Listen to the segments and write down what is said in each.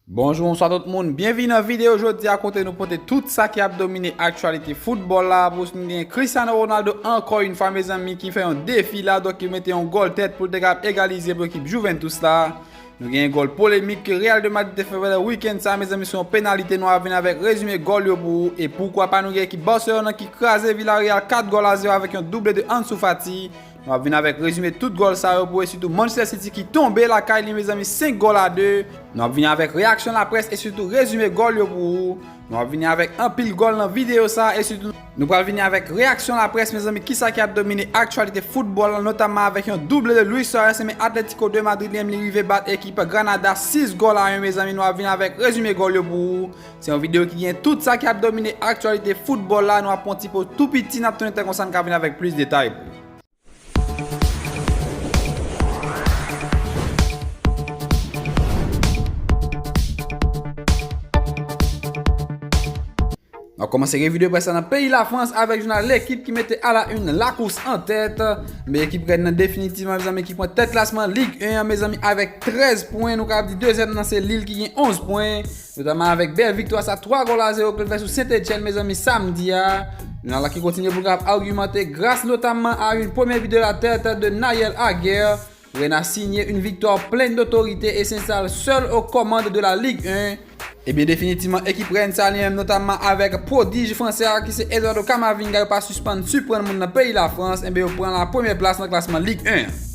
Bonjou bonswa tout moun, byenvini nan videyo jodi a kote nou pote tout sa ki ap domine aktyalite foutbòl la pou nou gen Cristiano Ronaldo ankò yon fwa mezanmi ki fè yon defi la donk ki mete yon gòl tèt pou l te kap egalize pou ekip Juventus la nou gen yon gòl polemik ke Real de Madrid te fè vèlè weekend sa mezanmi sou yon penalite nou a vin avèk rezime gòl yo pou ou e poukwa pa nou gen ekip Barcelona ki kraze Villarreal 4 gòl a 0 avèk yon double de Ansu Fati Nou ap vin avèk rezime tout gòl sa yo pou e sitou Manchester City ki tonbe lakay li mezanmi 5 gòl a 2. Nou ap vini avèk reyaksyon laprès e sitou rezime gòl yo pou ou. Nou ap vini avèk anpil gòl nan videyo sa e sitou. Nou pral vini avèk reyaksyon laprès mezanmi kisa ki ap domine aktyalite foutbòl lan notamman avèk yon double de Luis Suarez enben Atletico de Madrid li menm li rive bat ekip Granada 6 gòl a 1 mezanmi nou ap vini avèk rezime gòl yo pou ou. Se yon video ki gen tout sa ki ap domine aktyalite football la, nou ap pran ti poz tou piti nap tounen tan konsa n ka vini avèk plis detay pou ou. Nap komanse revi de près la nan peyi la Frans avèk jounal L'Equipe ki mete a la une la course en tête. Men ekip Rennes nan definitivman mezanmi ki pran tèt klasman Ligue 1 an mezanmi avèk 13 pwen, nou ka ap di dezyèm nan se Lille ki gen 11 pwen. Notaman avèk bèl viktwa sa 3 gòl a 0 ke l fè sou Sent Etyenn mezanmi samdi a. Yon ala ki kontinye pou l kab agimante gras notamman a yn premye bi de la tèt de Naël Aguer. Rena sinye yn viktwa plen dotorite e senstale sèl o kòmand de la Ligue 1. Ebyen definitivman ekip Rèn sa li menm notamman avèk pwodij fransè a ki se Eduardo Camavinga yo pa sispann siprann moun nan peyi Lafrans enben yo pran la premyè plas nan klasman Ligue 1 an.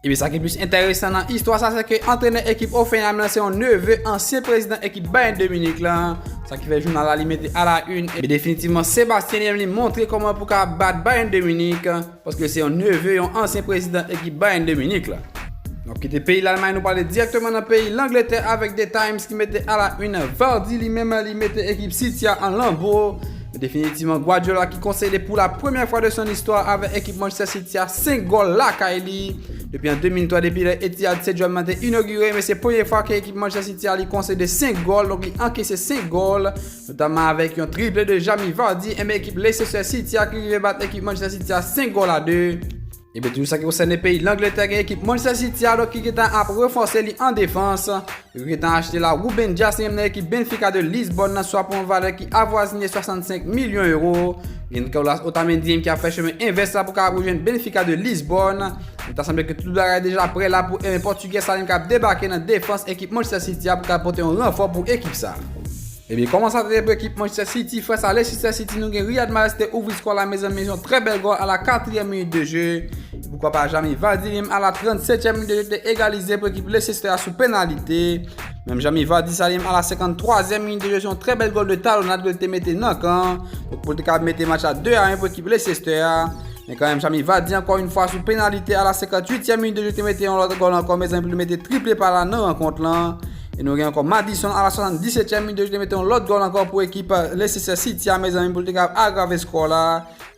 Epi sa ki plis enteresan nan istwa sa se ke antrenè ekip Hoffenheim lan se yon neve ansyen prezidan ekip Bayern de Munich lan, sa ki fè jounal la li mete a la une epi definitivman Sebastien li menm li montre kòman pou ka bat Bayern de Munich paske se yon neve yon ansyen prezidan ekip Bayern de Munich lan. Nou kite peyi Lalmay nou prale dirèkteman nan peyi Langletè avèk The Times ki mete a la une Vardy li menm li mete ekip City a an lanbo. Definitivman Guardiola ki konsede pou la premyè fwa de son istwa avè ekip Manchester City a 5 gòl lakay li. Depi an 2003 depi lè Etihad Stadium nan te inogire men se premye fwa ke ekip Manchester City a li konsede 5 gòl donk li ankese 5 gòl notamman avèk yon triple de Jamie Vardy enben ekip Leicester City a ki rive bat ekip Manchester City a 5 gòl a 2. Ebyen toujou sa ki konsène peyi Langletè gen ekip Manchester City a donk ki gentan ap ranfòse li an defans. Yo gentan achte la Ruben Dias li menm nan ekip Benfica de Lisbòn nan swa pou yon valè ki avwazine 65 milyon euro. Gen Nicolas Otamendi menm ki ap fè chemen envès la pou ka ap rejwenn Benfica de Lisbòn. Li ta sanble ke tout bagay deja prè la pou Portugè sa li menm ka ap debake nan defans ekip Manchester City a pou ka pote yon ranfò pou ekip sa. Ebyen kòman sa tete pou ekip Manchester City fès a Leicester City nou gen Riyad Mahrez te ouvri skò la mezanmi yon trè bèl gòl a la 4 ème minit de jeu e poukwa pa Jamie Vardy menm a la 37 ème minit de jeu te egalize pou ekip Leicester a sou penalite menm Jamie Vardy sa menm a la 53 ème minit de jeu se yon trè bèl gòl de talonad ke l te mete nan kan pou l te ka mete match la 2 a 1 pou ekip Leicester a men kan menm Jamie Vardy ankò yon fwa sou penalite a la 58 ème minit de jeu te mete yon lòt gòl ankò mezanmi pou l te mete triple pa la nan rankont lan. E nou gen ankò Maddison a la 77 tièm minit yo ki te mete yon lòt gòl ankò pou ekip Leicester City a mezanmi pou l te kapab agrave skò la.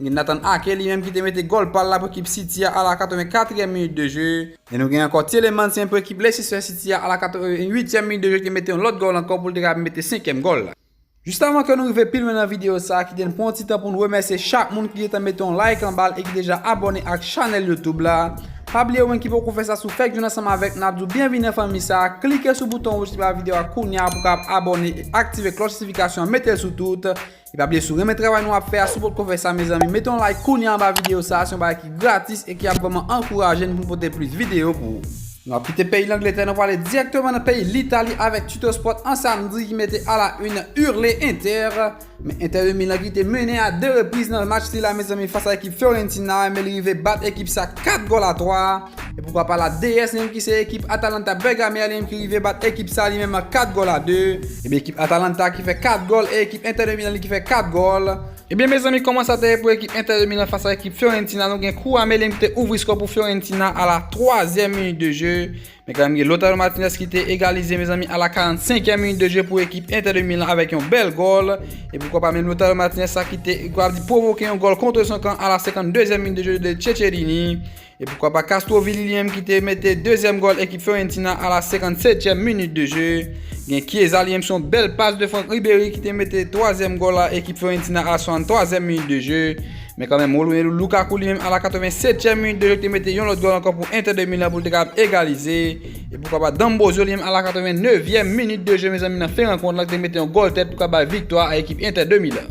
Gen Nathan Ake li menm ki te mete gòl pa l la pou ekip City a a la 84 tièm minit de je. E nou gen ankò Tielemans menm pou ekip Leicester City a a la 88 tièm minit de je ki te mete yon lòt gòl ankò pou l te kapab mete 5 kièm gòl la. Jis avan ke nou rive pi lwen nan video sa a kite n pran yon ti tan pou n remèsye chak moun ki gentan mete yon like anba l e ki deja abòne ak chanèl youtube la a. Pa bliye ou menm ki poko fè sa si w fèk jwenn ansanm avèk nou ap di w byenvini nan fanmi sa a klike sou bouton wouj ki anba video a kounya pou w kapab abòne e aktive klòch notifikasyon an mete l sou tout e pa bliye si w renmen travay nou ap fè a si w potko fè sa mezanmi mete yon like kounya anba video sa a se yon bagay ki gratis e ki ap vrèman ankouraje n pou n pote plis video pou ou. Nou ap kite peyi Langletè nou prale dirèkteman nan peyi Litali avèk Tuttosport an samdi ki mete a la une Hurley Inter. Men Inter de Milan ki te mennen a 2 repriz nan match sila mezanmi fas a ekip Fiorentina men li rive bat ekip sa 4 gòl a 3 e poukwa pa la DS li menm ki se ekip Atalanta Bergame a li menm ki rive bat ekip sa li menm 4 gòl a 2. Ebyen ekip Atalanta ki fè 4 gòl e ekip Inter de Milan li ki fè 4 gòl. Ebyen mezanmi kòman sa te ye pou ekip Inter de Milan fas a ekip Fiorentina nou gen kou Amelin ki te ouvri skò pou Fiorentina a la 3 zièm minit de je men kanmenm gen Lautaro Martinez ki te egalize mezanmi a la 45 èm minit de je pou ekip Inter de Milan avèk yon bèl gòl e poukwa pa menm Lautaro Martinez sa ki te pwovoke yon gòl kontre son kan a la 52 zièm minit de je de Ceccherini E poukwa pa Castro Vili li menm ki te mete dezyèm gòl ekip Fiorentina a la 57 tyèm minit de je. Gen Chiesa li menm se yon bèl pas de Franck Ribéry ki te mete twazyèm gòl a ekip Fiorentina a la 63 zièm minit de je. Men kanmenm Romelu Lukaku li menm a la 87 tyèm minit de je ki te mete yon lòt gòl ankò pou Inter de Milan pou li te kapab egalize. E poukwa pa D'Ambrosio li menm a la 89 zièm minit de je mezanmi nan fen rankont la ki te mete yon gòl tèt pou ka bay viktwa a ekip Inter de Milan.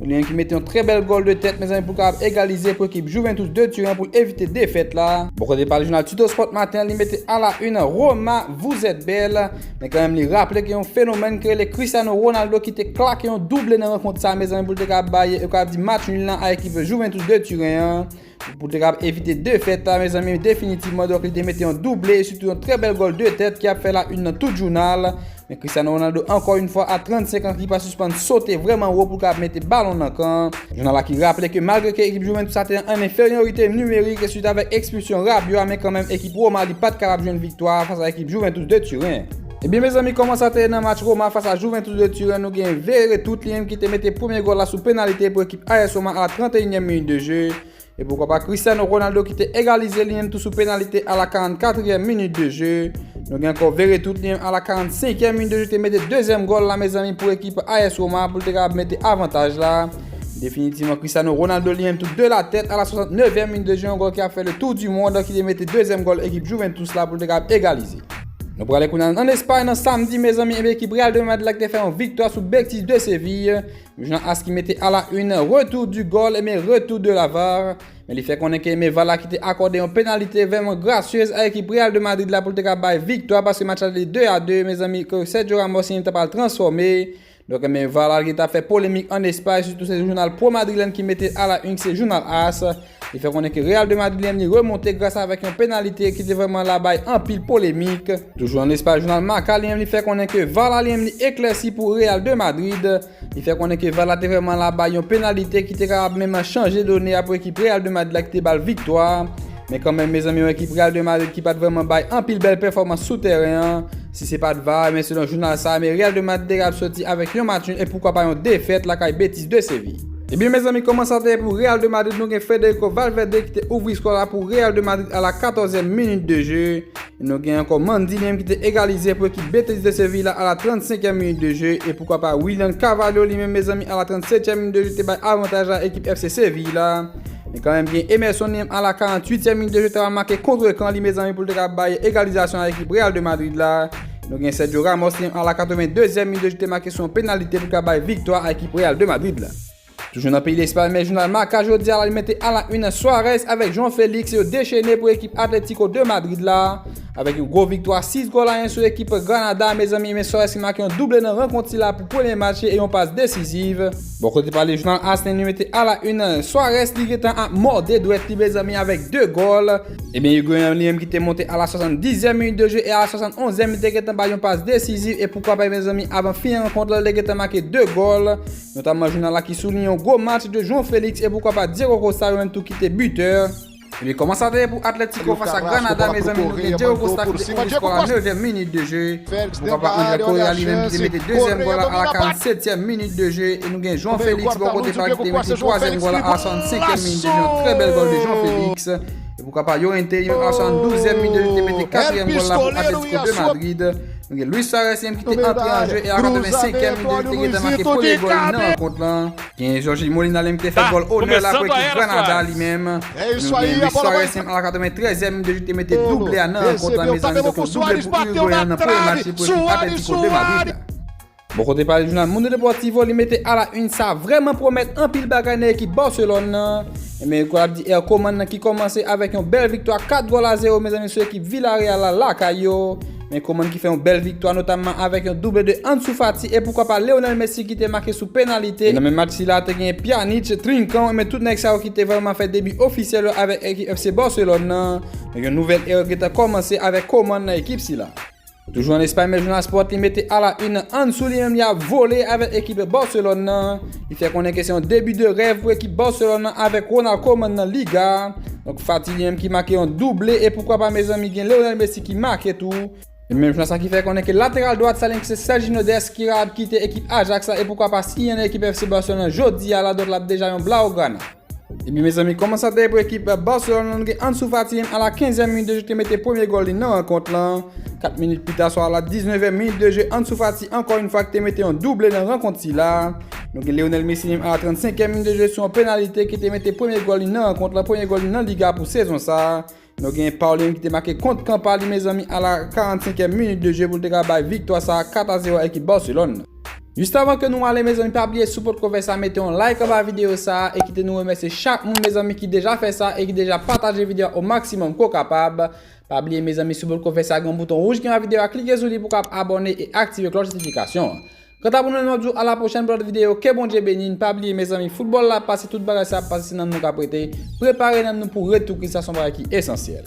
Lyon ki mete yon trè bèl gòl de tèt mezanmi pou kapab egalize pou ekip Juventus de Turen pou evite defèt la. Bò kote pa l jounal Tuttosport maten an li mete a la une Roma vous êtes belle men kanmenm li raple gen yon fenomèn ki rele Cristiano Ronaldo ki te klake yon double nan rankont sa mezanmi pou l te kapab bay yo kapab di match nul lan a ekip Juventus de Turen an. Pou te kab evite defèt la mezanmi definitivman donk li te mete yon double e sitou yon trè bèl gòl 2 tèt ki ap fè la yn nan tout jounal. Men Cristiano Ronaldo ankò yn fwa a 35 ans li pa sispann sote vrèman wo pou kab mete balon nan kan. Jounal la ki raple ke malgre ke ekip Juventus la te nan yn enferyorite nimerik e swit avèk ekspilsyon Rabiot a men kanmenm ekip Roma li pat kapab jwenn viktwa a fas a ekip Juventus de Turen. Ebyen mezanmi kòman sa te ye nan match Roma fas a Juventus de Turen nou gen Veere Tutlien ki te mete premye gòl la sou penalite pou ekip AS Roma a la 31 nyèm minit de je e poukwa pa Cristiano Ronaldo ki te egalize li menm tou sou penalite a la 44 nyèm minit de je nou gen ankò Veere Tutlien a la 45 nyèm minit de je te mete dezyèm gòl la mezanmi pou ekip AS Roma pou l te kapab mete avantaj la definitivman Cristiano Ronaldo li menm tou de la tèt a la 69 nyèm minit de je yon gòl ki ap fè le tour du monde ki te mete dezyèm gòl ekip Juventus la pou l te kapab egalize. Nou prale kounal an Espay nan samdi mezanmi enbe ekip Real de Madrid la ki te fè yon viktwa sou Betis de Séville. Jounan as ki mete ala un retou du gol enbe retou de la var. Men li fè konnen ke enbe var la ki te akorde yon penalite vèman grasyez a ekip Real de Madrid la pou l te ka bay viktwa paske match la te 2 a 2 mezanmi ke Sergio Ramos ta pral transfòme. Donk ebyen Valal ki ta fè polemik an Espay sitou se jounal Pro Madrilen ki mete l a la yn se jounal as li fè konnen ke Real de Madrid li menm li remonte gras avèk yon penalite ki te vrèman la bay anpil polemik. Toujou an Espay jounal Marca li menm li fè konnen ke Var la li menm li eklèsi pou Real de Madrid li fè konnen ke Var la te vrèman la bay yon penalite ki te kapab menm chanje done a pou ekip Real de Madrid la ki te ba l viktwa men kanmenm mezanmi yon ekip Real de Madrid ki pat vrèman bay anpil bèl pèfòmans sou tèren an Si se pat var ebyen selon jounal sa me Real de Madrid te kapab soti avèk yon match nul e poukwa pa yon defèt lakay Betis de Séville. Ebyen mezanmi kòman sa te ye pou Real de Madrid nou gen Federico Valverde ki te ouvri skò a pou Real de Madrid a la 14 èm minit de je e nou gen ankò Mendy li menm ki te egalize pou ekip Betis de Séville la a la 35 èm minit de je e poukwa pa Willian Carvalho li menm mezanmi a la 37 èm minit de je te bay avantaj a ekip FC Séville la. Men kanmenm gen Emerson Liam a la 48 tièm minit de jeu ta pral make contre ekan li mezanmi pou l te ka bay egalizasyon a ekip Real de Madrid la. Nou gen Sergio Ramos Liam a la 82 zièm minit de jeu te make sou yon penalite pou l ka bay viktwa a ekip Real de Madrid la. Toujou nan peyi Lespay men jounal Marca jodi a la li mete a la une Suarez avèk João Felix yo dechene pou ekip Atlético de Madrid la avèk yon gwo viktwa 6 gòl a 1 sou ekip Granada a mezanmi men Suarez ki make yon double nan rankont sila pou premye match li e yon pas desiziv. Bò kote pa li jounal as li li mete a la une Suarez li gentan ap mòde dwèt li mezanmi avèk 2 gòl. Ebyen Higuain li menm ki te monte a la 70 e minit de jwe e a la 71 e li te gentan bay yon pas desiziv e poukwa pa mezanmi avan fin rankont la li te gentan make 2 gòl. Notamman jounal la ki souliyen yon gwo match de João Felix e poukwa pa Diego Costa yo menm tou ki te bitè. Ebyen kòman sa te ye pou Atletico fas a Granada mezanmi nou gen Diego Costa ki te ouvri skò a 9 èm minit de je pou papa Angel Correa li menm ki te mete 2 zièm gòl la a la 47 zièm minit de je e nou gen João Felix bò kote pa li ki te mete 3 zièm gòl la a la 65 èm minit de je yon trè bèl gòl de João Felix e pou papa Llorente li menm a la 72 zièm minit de je li te mete 4 yèm gòl la pou Atletico de Madrid nou gen Luis Suarez li menm ki te antre an je e a la 85 èm minit de je li te gentan make premye gòl li nan rankont lan. Gen Jorginho Molina li menm ki te fè gòl onè la pou ekip Granada li menm. Nou gen Luis Suarez menm a la 93 èm depi li te mete double a nan rankont la mezanmi donk yon double pou Uruguayen an nan premye match li pou ekip Atlético de Madrid la. Bò kote pa li jounal Mundo Deportivo li mete a la une sa vrèman pwomèt anpil bagay nan ekip Barcelone nan. Ebyen gòl ap di Ercoman nan ki kòmanse avèk yon bèl viktwa 4 gòl a 0 mezanmi sou ekip Villarreal la lakay yo. Men Koman ki fè yon bèl viktwa notamman avèk yon double de Ansu Fati e poukwa pa Leonel Messi ki te make sou penalite. E nan menm match sila a te genyen Pjanic, Trincão e men tout nèg sa yo ki te vreman fè debi ofisyèl yo avèk ekip FC Barcelone nan. Donk yon nouvèl era gentan kòmanse avèk Koman nan ekip sila. Toujou an Espay men jounal Sport li mete a la une Ansu li menm li ap vole avèk ekip Barcelone nan. Li fè konnen ke se yon debi de rèv pou ekip Barcelone lan avèk Ronald Koeman nan Liga a. Donk Fati li menm ki make yon double e poukwa pa mezanmi gen Lionel Messi ki make tou. Se menm jounalis la ki fè konnen ke lateral dwat Salernitana se Sergino Dest ki ra ap kite ekip Ajax la e poukwa pa siyen nan ekip FC Barcelone lan jodi a la donk l ap deja yon Blaugrana. Ebyen mezanmi koman sa te ye pou ekip Barcelone lan nou gen Ansu Fati a la 15 e minit de je te mete premye gòl li nan rankont lan 4 minit pita swa a la 19 e minit de je Ansu Fati ankò yon fwa ki te mete yon double nan rankont sila nou gen Lionel Messi li menm a la 35 e minit de je sou yon penalite ki te mete premye gòl li nan rankont lan premye gòl li nan Liga pou sezon sa Nou gen Paulinho ki te make kont kan pa li mezanmi a la 45e minit de jeu pou l te ka bay viktwa sa 4 a 0 a ekip Barcelone. Just avan ke nou ale mezanmi pa bliye si w potko fè sa mete yon like anba video sa e kite nou remèsye chak moun mezanmi ki deja fè sa e ki deja pataje video a o maksimòm ke w kapab. Pa bliye mezanmi si w potko fè sa gen yon bouton wouj ki anba video a klike sou li pou w kab abòne e aktive klòch notifikasyon an. Kanta pou nou menm ap di w a la pwochèn pou lòt videyo ke Bondye beni n pa bliye mezanmi foutbòl la ap pase tout bagay sa ap pase se nanm nou kap rete prepare nanm nou pou retou Kris la son bagay ki esansyèl.